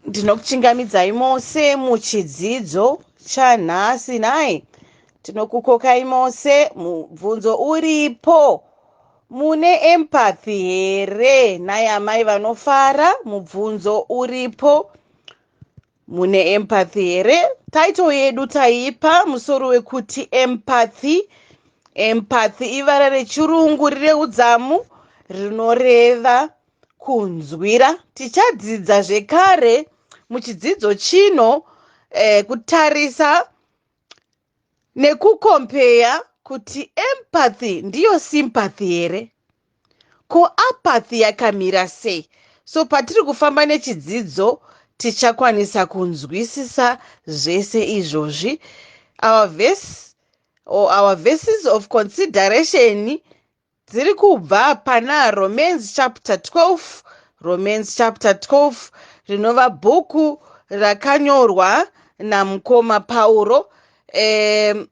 ndinokuchingamidzai mose muchidzidzo chanhasi nhai tinokukokai mose mubvunzo uripo mune empathy here nhai amai vanofara mubvunzo uripo Mune empathy here? Title yedu taipa musoro wekuti empathy. Empathy ivara rechirungu rine udzamu rinoreva kunzwira. Tichadzidza zvekare muchidzidzo chino eh, kutarisa nekukompeya kuti empathy ndiyo sympathy here ko apathy yakamira sei so patiri kufamba nechidzidzo tichakwanisa kunzwisisa zvese izvozvi our verse or our verses of consideration dziri kubva pana romans chapter 12 romans chapter 12 rinova bhuku rakanyorwa namukoma pauro um,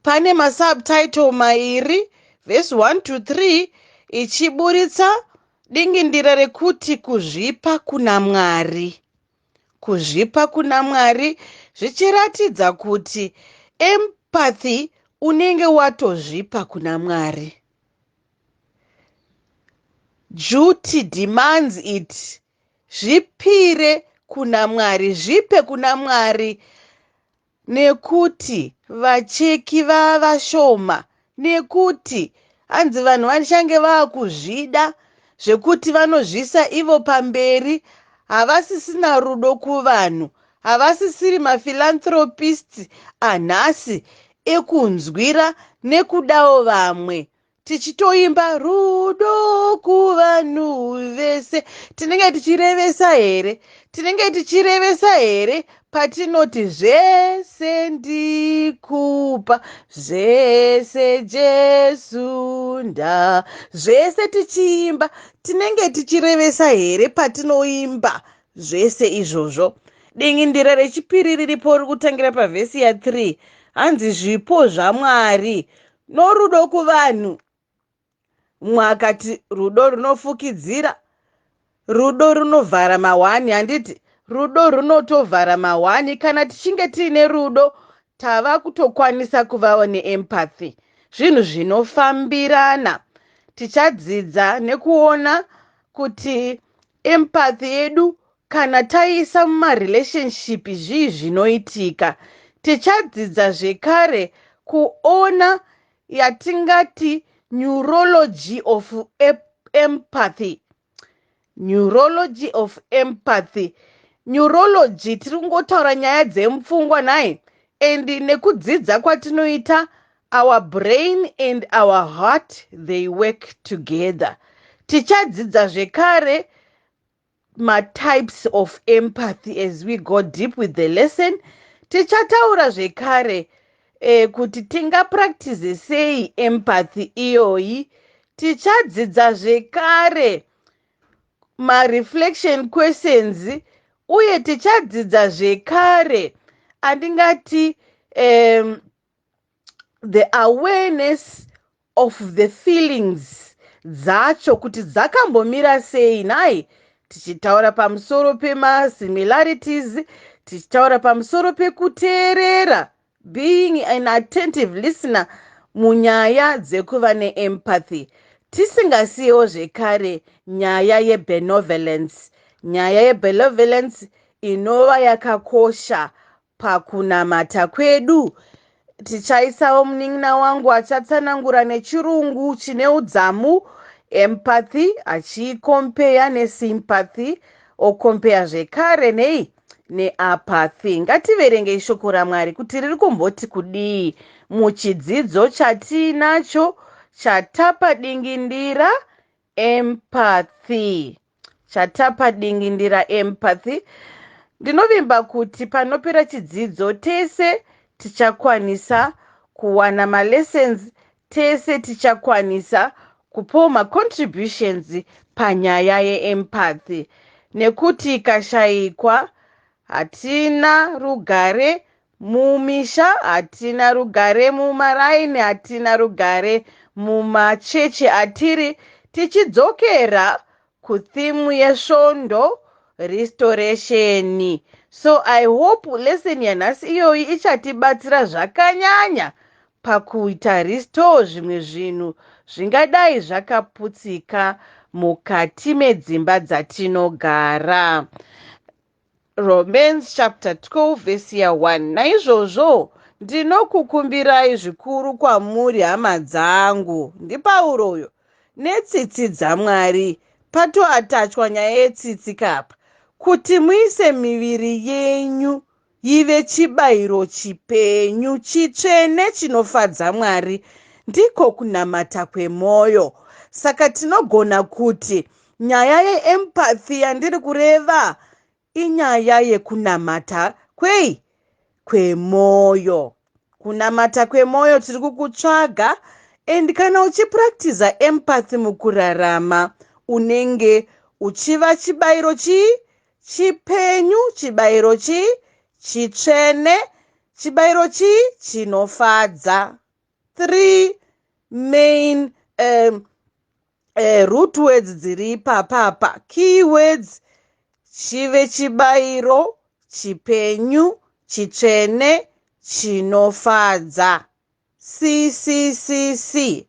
pane masubtitle mairi vhesi 1 to 3 ichiburitsa dingindira rekuti kuzvipa kuna mwari kuzvipa kuna mwari zvichiratidza kuti empathy unenge watozvipa kuna mwari duty demands it zvipire kuna mwari zvipe kuna mwari nekuti vacheki vava vashoma nekuti hanzi vanhu vachange vava kuzvida zvekuti vanozviisa ivo pamberi havasisina rudo kuvanhu havasisiri maphilanthropists anhasi ekunzwira nekudawo vamwe tichitoimba rudo kuvanhu vese tinenge tichirevesa here tinenge tichirevesa here patinoti zvese ndikupa zvese jesu nda zvese tichiimba tinenge tichirevesa here patinoimba zvese izvozvo dingindira rechipiri riripo riri kutangira pavhesi ya3 hanzi zvipo zvamwari norudo kuvanhu mumwe akati rudo runofukidzira rudo runovhara mahwani handiti rudo runotovhara mahwani kana tichinge tiine rudo tava kutokwanisa kuvawo neempathy zvinhu zvinofambirana tichadzidza nekuona kuti Empathy yedu kana taiisa mumarelationship zvii zvinoitika. Tichadzidza zvekare kuona yatingati neurology of empathy. Neurology of empathy. Neurology tiri kungotaura nyaya dzemupfungwa nhai and nekudzidza kwatinoita Our brain and our heart they work together. Tichadzidza zvekare matypes of empathy as we go deep with the lesson. Tichataura zvekare eh, kuti tingapractice sei empathy iyoyi. Tichadzidza zvekare mareflection questions uye tichadzidza zvekare andingati um, the awareness of the feelings dzacho kuti dzakambomira sei nhai tichitaura pamusoro pemasimilarities tichitaura pamusoro pekuteerera being an attentive listener munyaya dzekuva neempathy tisingasiyewo zvekare nyaya yebenovelance nyaya yebenovelance inova yakakosha Pakunamata kwedu, tichaisawo munin'ina wangu achatsanangura nechirungu chine udzamu, empathy, achiikompeya nesympathy, okompeya zvekare nei? neapathy. Ngativerengei shoko raMwari kuti riri kumboti kudii muchidzidzo chatiinacho chatapa dingindira Empathy. Chatapa dingindira empathy. Ndinovimba kuti panopera chidzidzo tese tichakwanisa kuwana malessons tese tichakwanisa kupawo macontributions panyaya yeempathy nekuti ikashaikwa hatina rugare Mumisha hatina rugare, mumaraini hatina rugare, mumachechi hatiri. Tichidzokera kutheme yesvondo restoration. So I hope lesson yanhasi iyoyi ichatibatsira zvakanyanya pakuita restore zvimwe zvinhu zvingadai zvakaputsika mukati medzimba dzatinogara. Romans chapter 12 verse ya 1 Naizvozvo ndinokukumbirai zvikuru kwamuri hama dzangu, ndiPauro uyo, netsitsi dzaMwari, patoatachwa nyaya yetsitsi kapa, kuti muise miviri yenyu ive chibayiro chipenyu, chitsvene, chinofadza Mwari, ndiko kunamata kwemwoyo. Saka tinogona kuti nyaya yeempathy yandiri kureva inyaya yekunamata kwei kwemwoyo kunamata kwemwoyo tiri kukutsvaga and kana uchipractiza empathy mukurarama unenge uchiva chibayiro chii chipenyu chibayiro chii chitsvene chibayiro chii chinofadza three main um, eh, root words dziri ipapa apa key words chive chibayiro chipenyu chitsvene chinofadza cccc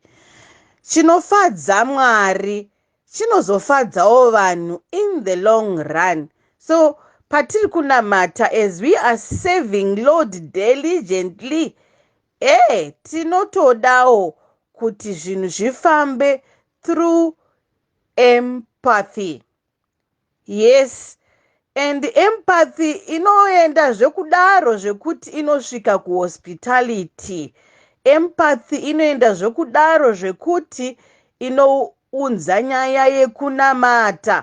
chinofadza mwari chinozofadzawo vanhu in the long run so patiri kunamata as we are serving lord diligently Hey tinotodawo kuti zvinhu zvifambe through empathy. Yes and empathy inoenda zvekudaro zvekuti inosvika kuhospitality. Empathy inoenda zvekudaro zvekuti inounza nyaya yekunamata.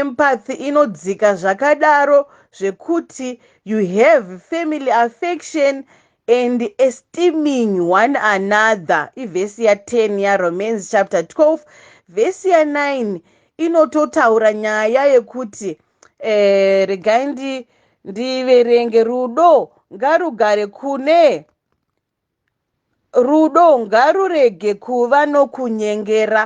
Empathy inodzika zvakadaro zvekuti you have family affection and esteeming one another. Ivhesi ya 10 ya Romans chapter 12 vhesi ya 9 inototaura nyaya yekuti eh, regai ndiverenge rudo ngarugare kune Rudo ngarurege kuva nokunyengera.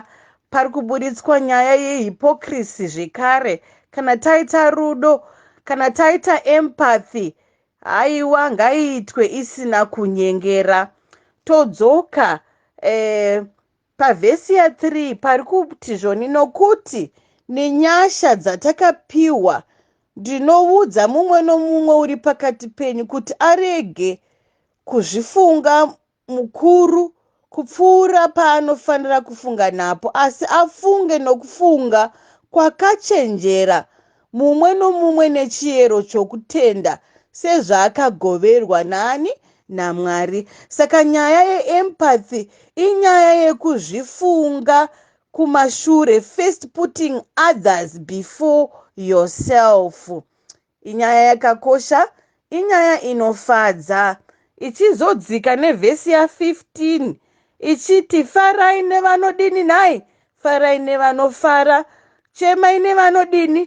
Pari kuburitswa nyaya yehypocrisy zvekare. Kana taita rudo, kana taita empathy, haiwa ngaiitwe isina kunyengera. Todzoka eh, Pavhesi ya 3 pari kuti zvoni nokuti nenyasha dzatakapiwa ndinoudza mumwe nomumwe uri pakati penyu kuti arege kuzvifunga mukuru kupfuura paanofanira kufunga napo asi afunge nokufunga kwakachenjera Mumwe nomumwe nechiyero chokutenda sezvaakagoverwa naani? NaMwari. Saka nyaya yeempathy inyaya yekuzvifunga kumashure, first putting others before yourself. Inyaya yakakosha Inyaya inofadza ichizodzika nevhesi ya15 ichiti, Farai nevanodini nhai? Farai nevanofara, chemai nevanodini?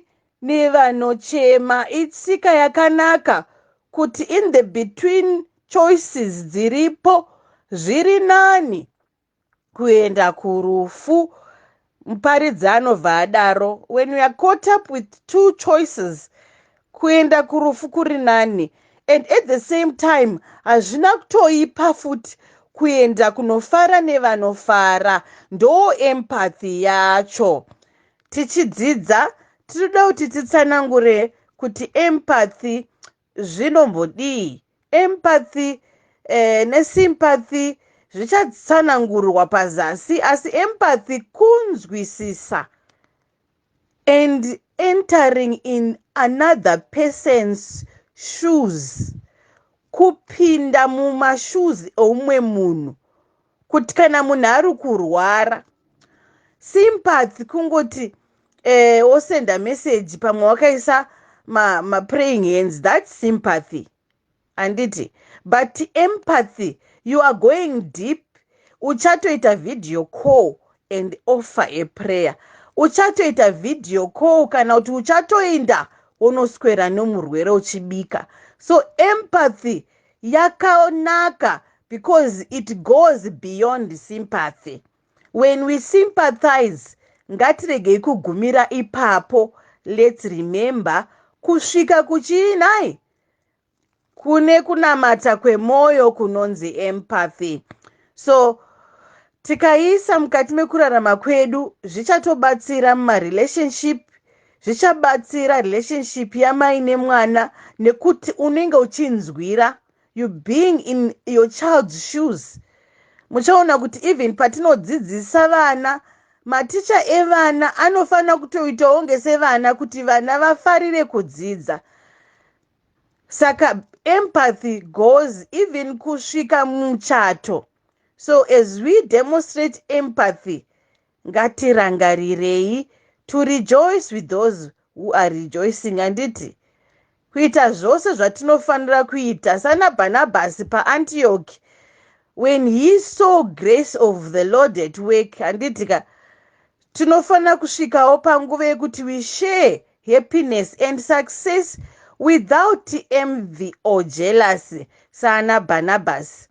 Nevanochema. Itsika yakanaka kuti in the between choices dziripo, zviri nani kuenda kurufu muparidzi anobva adaro when you are caught up with two choices kuenda kurufu kuri nani and at the same time hazvina kutoipa futi kuenda kunofara nevanofara ndoo empathy yacho tichidzidza tinoda kuti titsanangure kuti empathy Zvinombodii? Empathy eh, nesympathy zvichatsanangurwa pazasi asi empathy kunzwisisa and entering in another person's shoes kupinda mumashoes eumwe munhu kuti kana munhu ari kurwara sympathy kungoti eh, osenda message pamwe wakaisa mapraying ma hands that sympathy handiti but empathy you are going deep uchatoita video call and offer a prayer uchatoita video call kana kuti uchatoenda wonoswera nomurwere uchibika so empathy Yakanaka because it goes beyond sympathy. When we sympathize ngatiregei kugumira ipapo let's remember kusvika kuchii nhai? Kune kunamata kwemoyo kunonzi empathy. So tikaiisa mukati mekurarama kwedu zvichatobatsira mumarelationship zvichabatsira relationship yamai nemwana nekuti unenge uchinzwira you being in your child's shoes muchaona kuti even patinodzidzisa vana maticha evana anofanira kutoitawo nge sevana kuti vana vafarire kudzidza saka empathy goes even kusvika muchato so as we demonstrate empathy Ngatirangarirei to rejoice with those who are rejoicing handiti? Kuita zvose zvatinofanira kuita sanaBhanabhasi paAntiyoki when he saw grace of the Lord at work handiti ka? Tinofanira kusvikawo panguva yekuti we share happiness and success without envy or jealousy saana Bhanabhasi.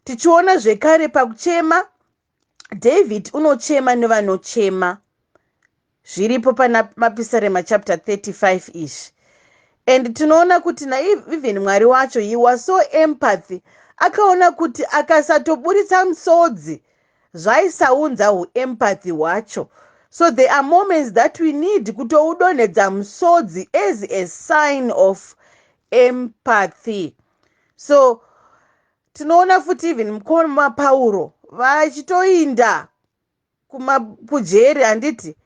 Tichiona zvekare pakuchema David unochema nevanochema zviripo pana mapisarema chapter 35 izvi and tinoona kuti naeven mwari wacho he was so empathy akaona kuti akasatoburitsa msodzi zvaisaunza huempathy hwacho so there are moments that we need kutoudonhedza msodzi as a sign of empathy so Tinoona futi even mkoma Pauro vachitoinda kuma kujeri handiti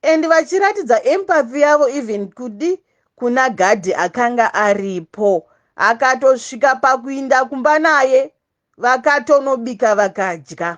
and vachiratidza empathy yavo even kudi kuna gadhi akanga aripo akatosvika pakuinda kumba naye vakatonobika vakadya.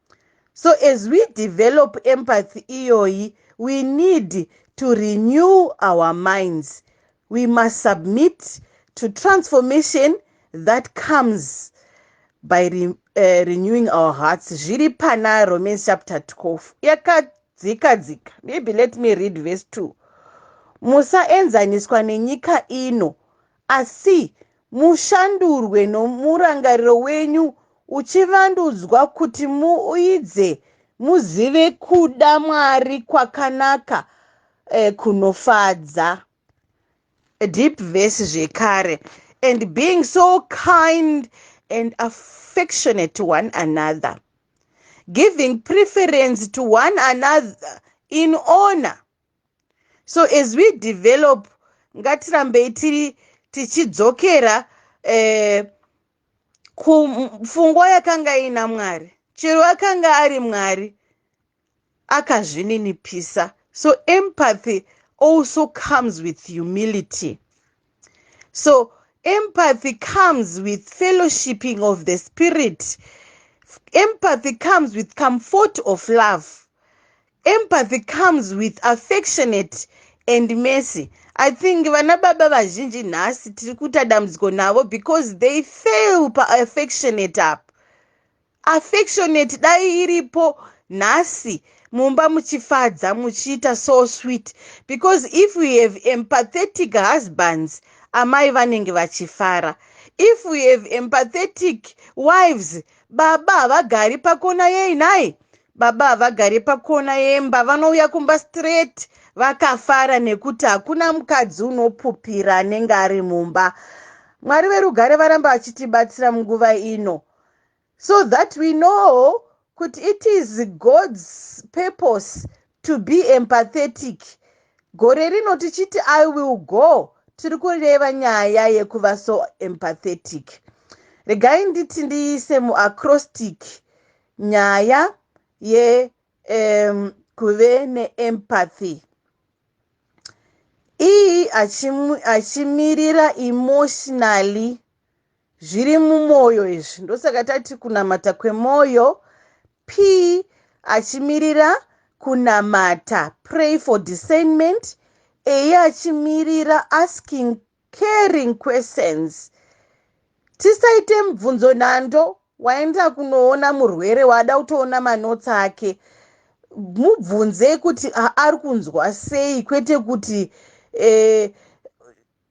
so as we develop empathy iyoyi we need to renew our minds we must submit to transformation that comes by re, uh, renewing our hearts zviri pana romans chapter 12 yakadzika dzika maybe let me read verse 2 musaenzaniswa nenyika ino Asi mushandurwe nomurangariro wenyu uchivandudzwa kuti muidze muzive kuda Mwari kwakanaka kunofadza. A deep verse zvekare. And being so kind and affectionate to one another. Giving preference to one another in honor. so as we develop ngatirambei tiri tichidzokera eh, kupfungwa yakanga iina mwari chero akanga ari mwari akazvininipisa so empathy also comes with humility so empathy comes with fellowshipping of the spirit empathy comes with comfort of love empathy comes with affectionate and mercy i think vana baba vazhinji nhasi tiri kuita dambudziko navo because they fail paaffectionate up affectionate dai iripo nhasi mumba muchifadza muchiita so sweet because if we have empathetic husbands amai vanenge vachifara if we have empathetic wives Baba havagari pakona yei nhai? Baba havagari pakona yemba, vanouya kumba straight vakafara nekuti hakuna mukadzi unopupira anenge ari mumba. Mwari verugare varamba vachitibatsira munguva ino so that we know kuti it is God's purpose To be empathetic. Gore rino tichiti I will go tiri kureva nyaya yekuva so empathetic. Regai nditi ndiise muacrostic nyaya ye um, kuve neempathy iyi achimirira emotionally zviri mumwoyo izvi ndosaka tati kunamata kwemwoyo P achimirira kunamata, pray for discernment, A achimirira asking caring questions. Tisaite mubvunzo nhando waenda kunoona murwere waada kutoona manotsi ake mubvunze kuti ari kunzwa sei kwete kuti eh,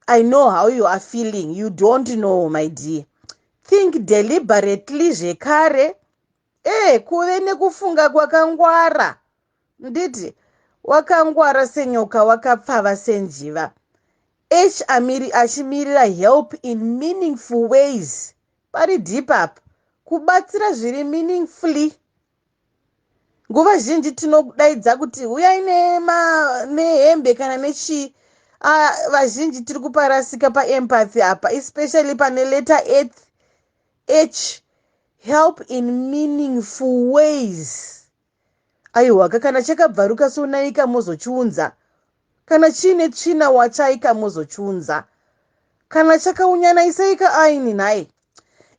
I know how you are feeling. You don't know, my dear. Think deliberately zvekare. Eh, kuve nekufunga kwakangwara. Nditi, wakangwara senyoka wakapfava senjiva. H amiri achimirira help in meaningful ways. Pari deep up. Kubatsira zviri meaningfully. nguva zhinji tinodaidza kuti huyai nehembe ne kana nechii vazhinji tiri kuparasika paempathy apa especially pane letter eth h help in meaningful ways aiwaka kana chakabvaruka sonaika mozochiunza Kana chiine tsvina wachaika mozochiunza. Kana chakaunyana isaika aini nhai.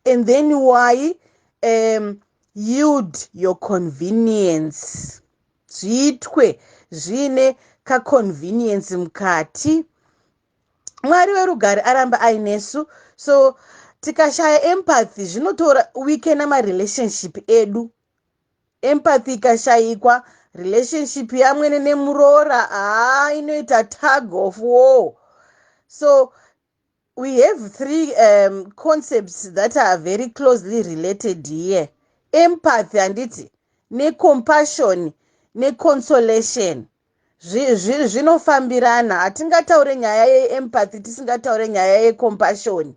And then why um, yield your convenience. Zviitwe zviine kaconvenience mukati. Mwari werugare arambe ainesu. So tikashaya empathy zvinotora weekena marelationship edu Empathy ikashaikwa relationship yamwene nemuroora haa inoita tug of war so we have three um, concepts that are very closely related here empathy handiti necompassion neconsolation zvinofambirana hatingataure nyaya yeempathy tisingataure nyaya yecompassion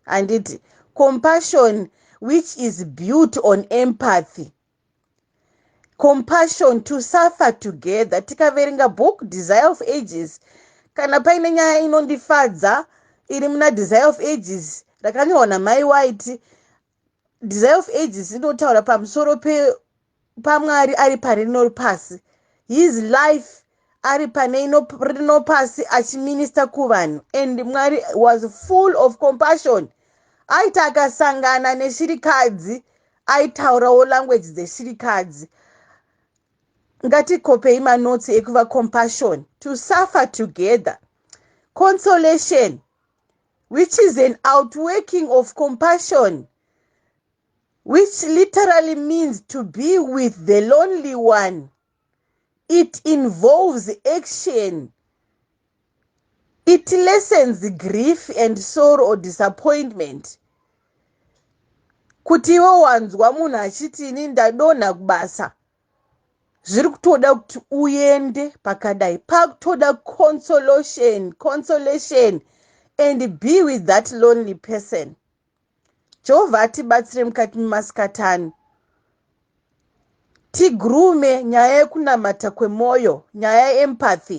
handiti compassion which is built on empathy compassion to suffer together tikaverenga book desire of ages kana paine nyaya inondifadza iri muna desire of ages rakanyorwa namai white desire of ages inotaura pamusoro pamwari ari parino pasi his life ari pane rino pasi achiminista kuvanhu and mwari was full of compassion aita akasangana neshirikadzi aitaurawo language dzeshirikadzi ngatikopei manotsi ekuva compassion to suffer together consolation which is an outworking of compassion which literally means to be with the lonely one it involves action it lessens grief and sorrow or disappointment kuti ivo wanzwa munhu achiti ini ndadonha kubasa zviri kutoda kuti uende pakadai pakutoda consolation consolation and be with that lonely person jehovha atibatsire mukati memasikatani tigrume nyaya yekunamata kwemwoyo nyaya yeempathy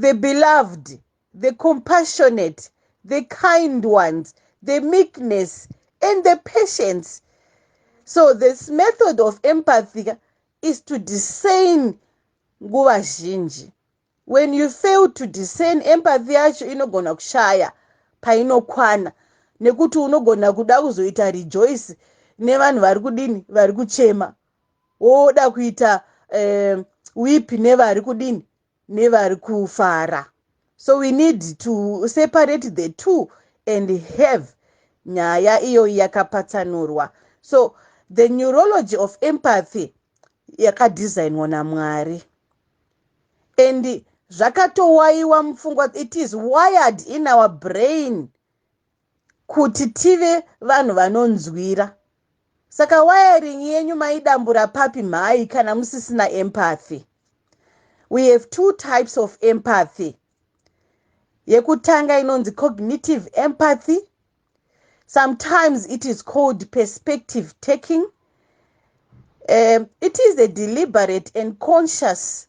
the beloved the compassionate the kind ones the meekness and the patience so this method of empathy is to discern nguva zhinji when you fail to discern empathy yacho inogona kushaya painokwana nekuti unogona kuda kuzoita rejoice nevanhu vari kudini vari kuchema woda kuita um, wip nevari kudini nevari kufara so we need to separate the two and have nyaya iyoyi yakapatsanurwa so the neurology of empathy yakadesignwa namwari and zvakatowaiwa mupfungwa it is wired in our brain kuti tive vanhu vanonzwira saka wiring yenyu maidambura papi mhai kana musisina empathy we have two types of empathy yekutanga inonzi cognitive empathy sometimes it is called perspective taking um, it is a deliberate and conscious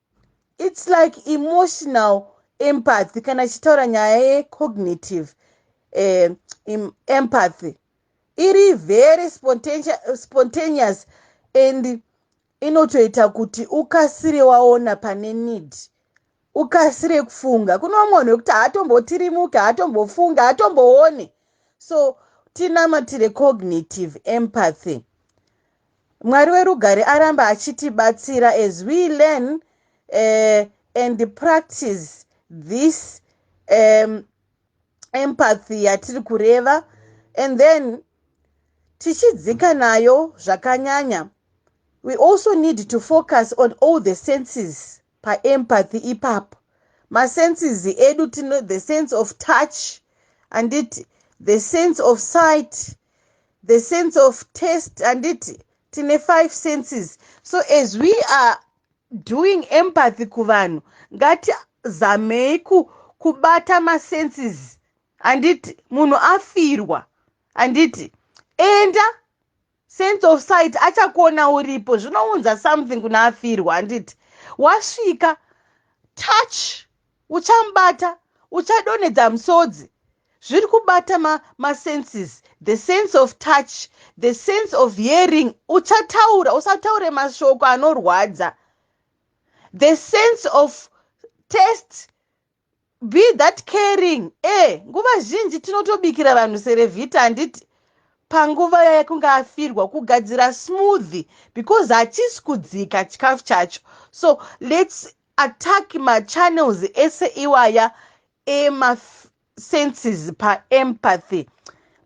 its like emotional empathy kana ichitaura nyaya yecognitive eh, empathy iri very spontaneous and inotoita kuti ukasire waona pane need ukasire kufunga kune vamwe vanhu vekuti haatombotirimuke haatombofunga haatomboone so tinamatire cognitive empathy Mwari werugare aramba achitibatsira as we learn uh, and practice this um, empathy yatiri kureva and then tichidzika nayo zvakanyanya we also need to focus on all the senses pa empathy ipapo masenses edu tino the sense of touch anditi the sense of sight the sense of test anditi tine five senses so as we are doing empathy kuvanhu ngatizamei kubata masenses anditi munhu afirwa anditi enda Sense of sight achakuona uripo zvinounza something kuna afirwa handiti wasvika touch uchamubata uchadonedza musodzi zviri kubata masenses ma the sense of touch the sense of hearing uchataura usataure mashoko anorwadza the sense of test Be that caring eh nguva zhinji tinotobikira vanhu serevhita handiti panguva yakunge afirwa kugadzira smoothie because hachisi kudzika chikafu chacho so lets attack machannels ese iwaya emasenses paempathy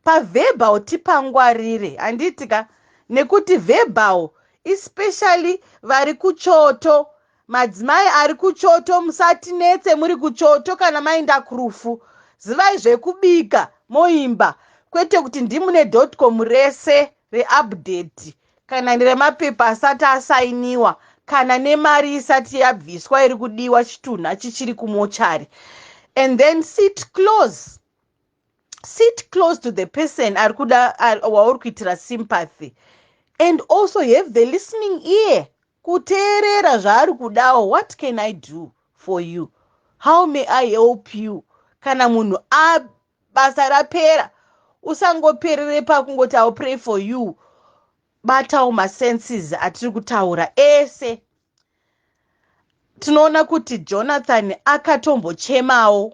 pavebal tipangwarire handiti ka nekuti vebal especially vari kuchoto Madzimai ari kuchoto musatinetse muri kuchoto kana mainda kurufu zivai zvekubika moimba kwete kuti ndimune dotcom rese reupdate kana neremapepa asati asainiwa kana nemari isati yabviswa iri kudiwa chitunha chichiri kumochari and then sit close sit close to the person ari kuda wauri kuitira sympathy and also have the listening ear kuteerera zvaari kudawo what can i do for you how may i help you kana munhu a basa rapera usangoperere pakungoti iw pray for you batawo masenses atiri kutaura ese tinoona kuti jonathan akatombochemawo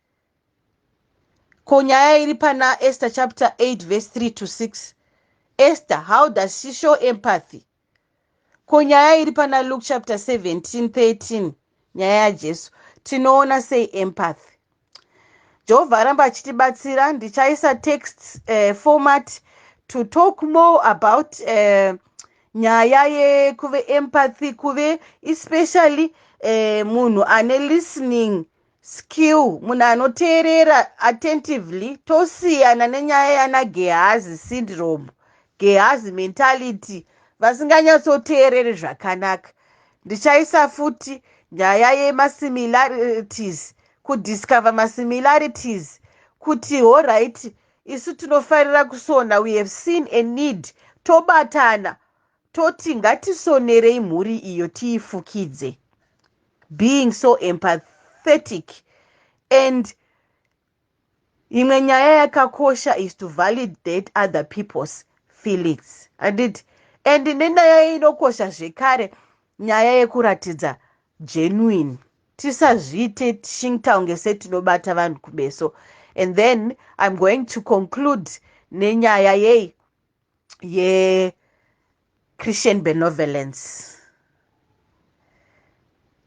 ko nyaya iri pana esther chapter 8 verse 3 to 6 esther how does she show empathy ko nyaya iri pana luke chapter 17 13 nyaya yajesu tinoona sei empath jehovha aramba achitibatsira ndichaisa text uh, format to talk more about uh, nyaya yekuve empathy kuve especially uh, munhu ane listening skill munhu anoteerera attentively tosiyana nenyaya yana gehazi syndrome gehazi mentality vasinganyatsoteereri zvakanaka ndichaisa futi nyaya yemasimilarities kudiscover masimilarities kuti horyt isu tinofarira kusona we have seen a need tobatana Toti ngatisonerei mhuri iyo tiifukidze. Being so empathetic and imwe nyaya yakakosha is to validate other people's feelings andit and nenyaya inokosha zvekare nyaya yekuratidza genuine tisazviite tichitaunge setinobata vanhu kumeso and then im going to conclude nenyaya yei yechristian benevolence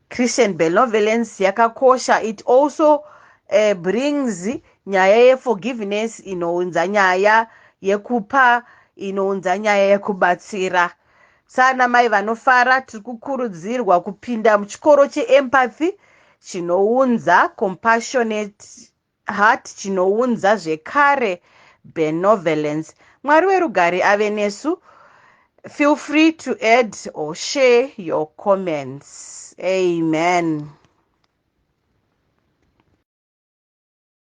christian benevolence yakakosha it also uh, brings nyaya yeforgiveness inounza nyaya yekupa inounza nyaya yekubatsira saana mai vanofara tiri kukurudzirwa kupinda muchikoro cheempathy chinounza compassionate Heart chinounza zvekare benevolence. Mwari werugare ave nesu. Feel free to add or share your comments. Amen.